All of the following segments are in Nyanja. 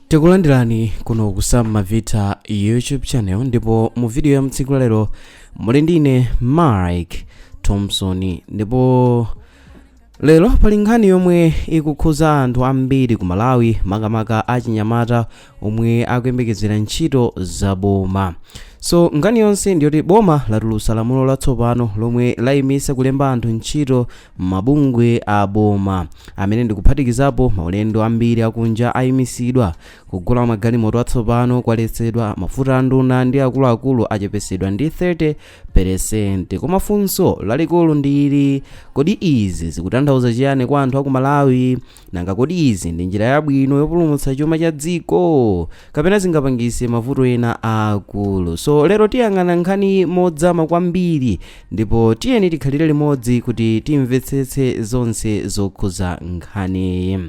tikulandirani kuno ku sam mavita youtube channel ndipo mu video ya mtsiku lalero muli ndine mike thompson ndipo lero pali nkhani yomwe ikukhuza anthu ambiri ku malawi makamaka achinyamata omwe akuyembekezera ntchito za boma so nkhani yonse ndiyoti boma latulutsa lamulo latsopano lomwe layimisa kulemba anthu ntchito Mabungwe a boma, amene ndikuphatikizapo maulendo ambiri akunja, ayimisidwa, kugula magalimoto atsopano kwaletsedwa, mafuta a nduna ndi akuluakulu achepetsedwa ndi 30 peresenti. Koma funso lalikulu ndi ili, Kodi izi zikutanthauza chiyani kwa anthu a ku Malawi? Nanga kodi izi ndi njira yabwino yopulumutsa chuma cha dziko kapena zingapangise mavuto ena aakulu? So lero tiyang'ana nkhani modzama kwambiri ndipo tiyeni tikhalire limodzi kuti timvetsetse zonse zokhuza nkhaniyi.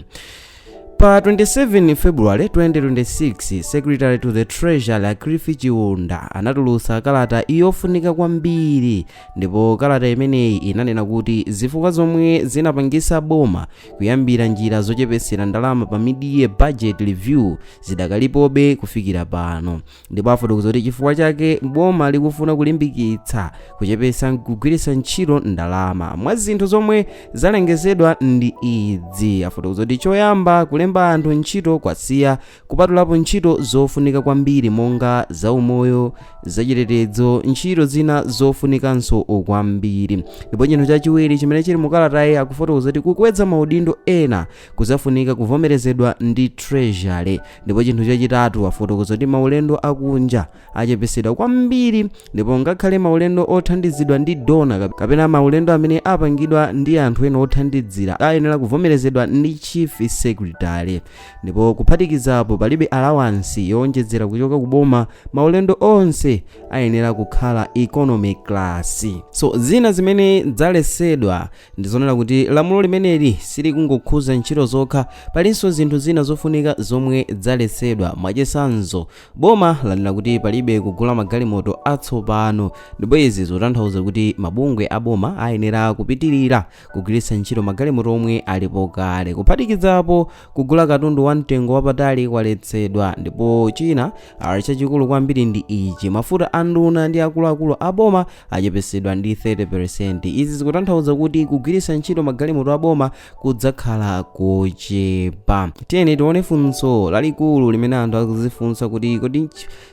Pa 27 February 2026, Secretary to the Treasury a Cliff Chiunda anatulutsa kalata yofunika kwambiri Ndipo kalata imeneyi inanena kuti zifukwa zomwe zinapangisa boma kuyambira njira zochepesera ndalama pa mid-year budget review zidakalipobe kufikira pano. Ndipo afotokoza kuti chifukwa chake boma likufuna kulimbikitsa kuchepesa kugwiritsa ntchito ndalama. Mwa zinthu zomwe zalengezedwa ndi idzi. Afotokoza kuti choyamba kulemba anthu ntchito kwasiya Kupatulapo ntchito zofunika kwambiri monga zaumoyo, zachitetedzo, ntchito zina zofunikanso kwambiri. Ndipo chinthu chachiwiri chimene chili mu kalatayi akufotokoza kuti kukwedza maudindo ena kuzafunika kuvomerezedwa ndi treasury. Ndipo chinthu chachitatu afotokoza kuti maulendo akunja achepetsedwa kwambiri ndipo ngakhale maulendo othandizidwa ndi dona kapena maulendo amene apangidwa ndi anthu ena othandizira ayenera kuvomerezedwa ndi chief secretary ndipo kuphatikizapo palibe alawansi yowonjedzera kuchoka ku boma maulendo onse ayenera kukhala economy class so zina zimene zalesedwa ndizonena kuti lamulo limeneli silikungokhuza ntchito zokha palinso zinthu zina zofunika zomwe zalesedwa mwachisanzo Boma lanena kuti palibe kugula magalimoto atsopano ndipo izi zikutanthauza kuti mabungwe a boma ayenera kupitirira kugwiritsa ntchito magalimoto omwe alipo kale. Kuphatikizapo kugula katundu wa mtengo wapatali kwaletsedwa ndipo china chachikulu kwambiri ndi ichi, mafuta a nduna ndi akuluakulu a boma achepetsedwa ndi 30%. Izi zikutanthauza kuti kugwiritsa ntchito magalimoto a boma kudzakhala kochepa tiyeni tione funso lalikulu limene anthu akuzifunsa kuti kodi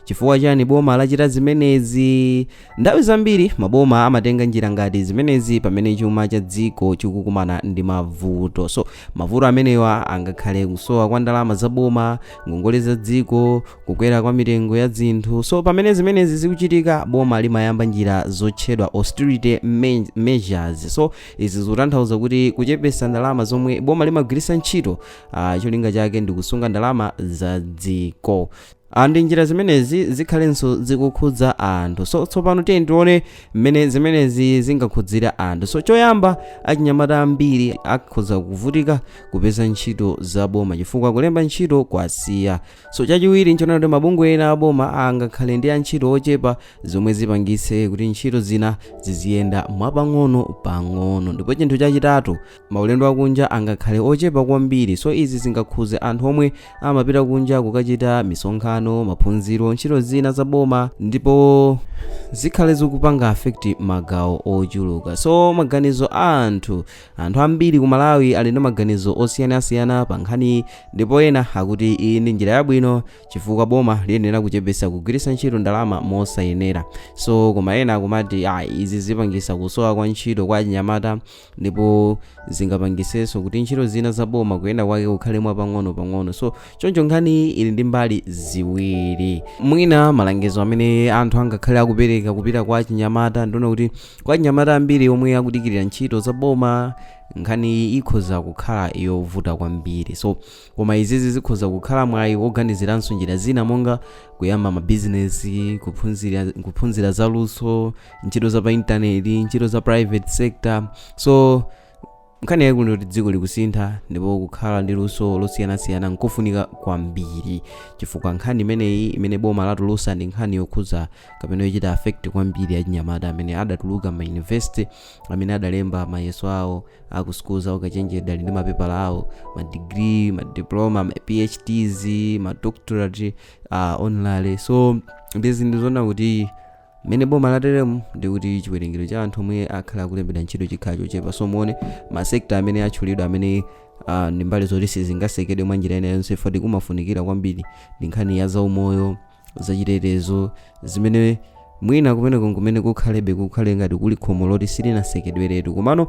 chifukwa chani boma lachita zimenezi nthawi zambiri maboma amatenga njira ngati zimenezi pamene chuma cha dziko chikukumana ndi mavuto so mavuto amenewa angakhale kusowa kwa ndalama za boma ngongole za dziko kukwera kwa mitengo ya zinthu so pamene zimenezi zikuchitika boma limayamba njira zotchedwa austerity me- measures so Izi zikutanthauza kuti kuchepesa ndalama zomwe boma limagwirisa ntchito uh, cholinga chake ndi kusunga ndalama za dziko andi njira zimenezi zikhalenso zikukhudza anthu so tsopano tiyeni tione mmene zimenezi zingakhudzira anthu so choyamba achinyamata ambiri akhoza kuvutika kupeza ntchito za boma chifukwa kulemba ntchito kwasiya so chachiwiri nchonena kuti mabungwe ena aboma angakhale ndi antchito ochepa zomwe zipangitse kuti ntchito zina ziziyenda mwapang'ono pang'ono ndipo chinthu chachitatu maulendo akunja angakhale ochepa kwambiri so izi zingakhuze anthu omwe amapita kunja kukachita misonkhano maphunziro ntchito zina za boma ndipo zikhale zikupanga affect magawo ochuluka so maganizo a anthu anthu ambiri ku malawi ali ndi maganizo osiyanasiyana pa nkhani ndipo ena akuti iyi ndi njira yabwino chifukwa boma liyenera kuchepetsa kugwiritsa ntchito ndalama mosayenera so koma ena akumati ah, izi zipangisa kusowa kwa ntchito kwa achinyamata ndipo zingapangisenso kuti ntchito zina za boma kuyenda kwake kukhale mwa pang'ono pang'ono so choncho nkhani ili ndi mbali ziwiri mwina malangizo amene anthu angakhale akupereka kupita kwa achinyamata ndiona kuti kwa achinyamata ambiri omwe akudikirira ntchito za boma nkhani ikhoza kukhala yovuta kwambiri so Koma izizi zikhoza kukhala mwayi woganiziranso njira zina monga kuyamba mabizinesi, kuphunzira za luso, ntchito za pa intaneti, ntchito za private sector. So nkhani yaikulu ndiyoti dziko likusintha ndipo kukhala ndi luso losiyanasiyana nkofunika kwambiri chifukwa nkhani imeneyi imene boma latulusa ndi nkhani yokhudza kapena yochita affect kwambiri achinyamata amene adatuluka ma university amene adalemba mayeso awo a ku sukulu za ukachenjede ali ndi mapepala awo ma degree ma diploma ma phds ma doctorate uh, honorary so ndi zinthu zona kuti mmene boma lateremu ndi kuti chiwerengero cha anthu omwe akhale akulembedwa ntchito chikhala chochepa so muone masekta amene atchulidwa amene uh, ndi mbali zoti sizingasekedwe mwa njira ina yonse foti kumafunikira kwambiri ndi nkhani ya zaumoyo zachitetezo zimene mwina kumeneko kumene kukhalebe kukhale ngati kuli khomo loti silinasekedweretu komano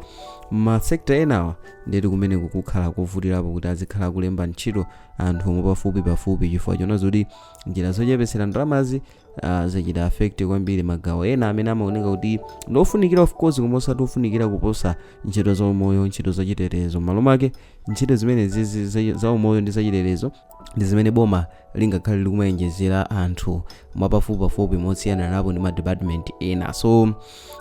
masekta enawa ndeti kumeneko kukhala kovutirapo kuti azikhala akulemba ntchito anthu omwe pafupi pafupi chifukwa chona zoti njira zochepetsera ndalamazi ah, zachita affect kwambiri magawo ena amene amaoneka kuti ndiofunikira of course koma osati ofunikira kuposa ntchito za umoyo ntchito zachitetezo m'malo mwake ntchito zimenezi za- za umoyo ndi zachitetezo ndi zimene boma lingakhale likumawonjezera anthu mwapafupipafupi motsiyananapo ndi madepartment ena so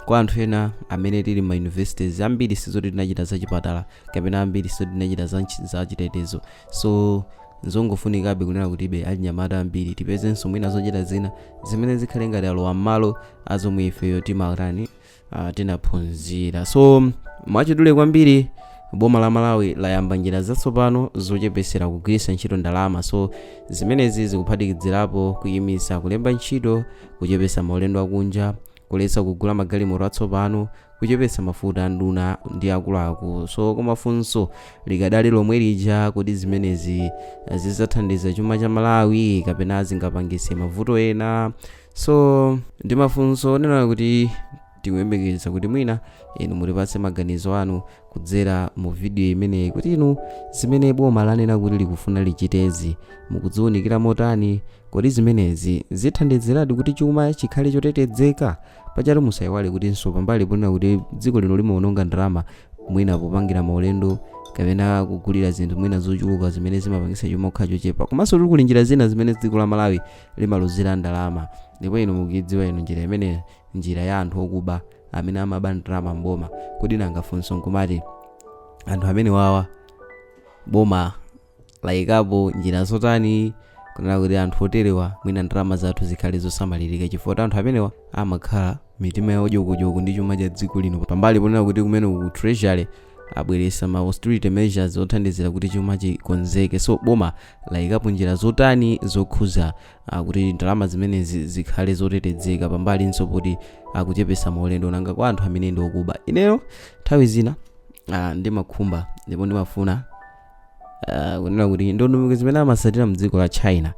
kwa anthu ena amene tili ma universities ambiri sizoti tinachita za chipatala kapena ambiri sizoti tinachita za, nchi- za chitetezo so nzongofunikabe kunena kutibe achinyamata ambiri tipezenso mwina zochita zina zimene zikhale ngati alowa mmalo azomwe ifeyo timatani uh, tinaphunzira so mwachidule kwambiri boma la malawi layamba njira zatsopano zochepesera kugwiritsa ntchito ndalama so zimenezi zikuphatikizirapo kuyimisa kulemba ntchito kuchepesa maulendo akunja kuletsa kugula magalimoto atsopano kuchepesa mafuta a nduna ndi akuluakulu so koma funso likadali lomwe lija kodi zimenezi zizathandiza chuma cha malawi kapena zingapangise mavuto ena so ndi mafunso onena kuti tikuyembekeza kuti mwina inu mutipatse maganizo anu kudzera mu vidiyo imeneyi kuti inu zimene boma lanena kuti likufuna lichitezi mukuziwunikira motani kodi zimenezi zithandiziradi kuti chuma chikhale chotetezeka pachatu musayiwale kutinso pambali ponena kuti dziko lino limawononga ndalama mwina popangira maulendo kapena kugulira zinthu mwina zochuluka zimene zimapangisa chuma kukhala chochepa komanso kuli njira zina zimene dziko la malawi limaluzira ndalama ndipo inu mukuidziwa inu njira imeneyo njira ya anthu okuba amene amaba ndalama mboma kodi nanga funso nkumati anthu amenewawa boma layikapo njira zotani kunena kuti anthu oterewa mwina ndalama zathu zikhale zosamalirika chifukwa anthu amenewa amakhala mitima yawo dyokodyoko ndi chuma cha dziko lino pambali ponena kuti kumene ku treasury abweresa ma austerity measures othandizira kuti chuma chikonzeke so boma layikapo njira zotani zokhuza ah, kuti ndalama zimenezi zikhale zotetezeka pambalinso poti akuchepesa maulendo nanga kwa anthu amene ndi okuba ineyo nthawi zina ah, ndimakhumba ndipo ndimafuna ah, kunena kuti ndondomeko zimene amasatira mdziko la china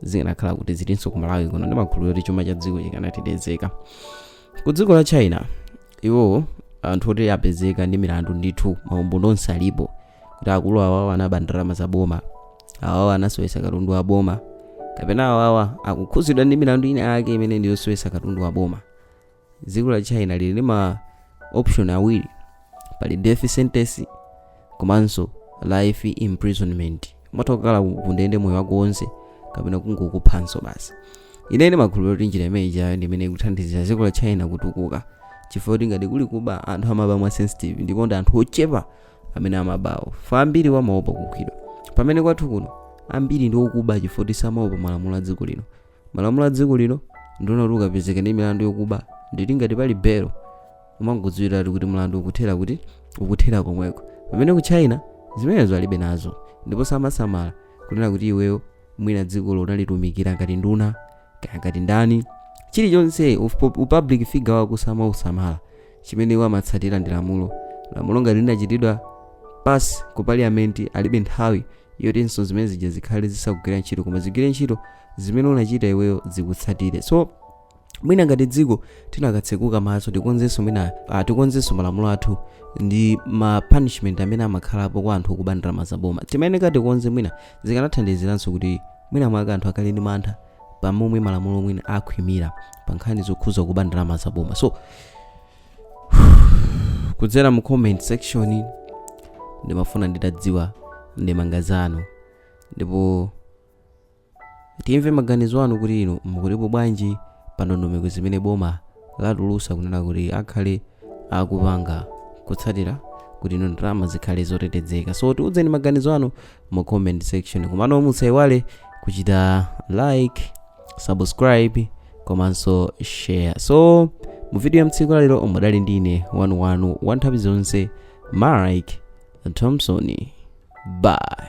zikanakhala kuti zilinso ku malawi kuno ndimakhulupirira kuti chuma cha dziko chikanatetezeka ku dziko la china iwowo anthu oti apezeka ndi milandu ndithu maumboni onse alipo kuti akulu awawa anaba ndalama za boma awawa anasowesa katundu wa boma kapena awawa akukhuzidwa ndi milandu ina yake imene ndi yosowesa katundu wa boma dziko la china lili ndi ma option awiri pali death sentence komanso life imprisonment umatha kukhala kundende moyo wako wonse kapena kungokuphanso basi ine ndimakhulupirira kuti njira imeneyiyo ndi imene ikuthandizira dziko la china kutukuka chifukwa kuti ngati kuli kuba anthu amaba mwa sensitive ndipo ndi anthu ochepa amene amabawo fa ambiri wamaopa kukhwidwa pamene kwathu kuno ambiri ndi okuba chifoti samaopa malamulo a dziko lino malamulo a dziko lino ndi onena kuti ukapezeka ndi milandu yokuba nditi ngati pali belo umangodziwiratu kuti mlandu ukuthera kuti ukuthera komweko pamene ku china zimenezo alibe nazo ndipo samasamala kunena kuti iweyo mwina dzikolo unalitumikira ngati nduna kaya ngati ndani chilichonse upublic figure wako samausamala chimene iwo amatsatira ndi lamulo lamulo ngati linachitidwa pass ku parliament alibe nthawi yotinso zimene zija zikhale zisakugwira ntchito koma zigwire ntchito zimene unachita iweyo zikutsatire so mwina ngati dziko tinakatsekuka maso tikonzenso mwina uh, tikonzenso malamulo athu ndi ma punishment amene amakhalapo kwa anthu okuba ndalama zaboma timayeneka tikonze mwina zikanathandiziranso kuti mwina mwake anthu akhale ndi mantha pa momwe malamulo mwina akhwimira pa nkhani zokhudza kuba ndalama za boma so kudzera mu comment section ndimafuna nditadziwa ndemanga zanu ndipo timve maganizo anu kuti inu mukutipo bwanji pa ndondomeko zimene boma latulusa kunena kuti akhale akupanga kutsatira kuti izo ndalama zikhale zotetezeka so tiudzeni maganizo anu mu comment section komano musaiwale kuchita like subscribe komanso share so mu video ya mtsiku la lero mudali ndi ine wanu wanu wa nthawi zonse mark thompson bye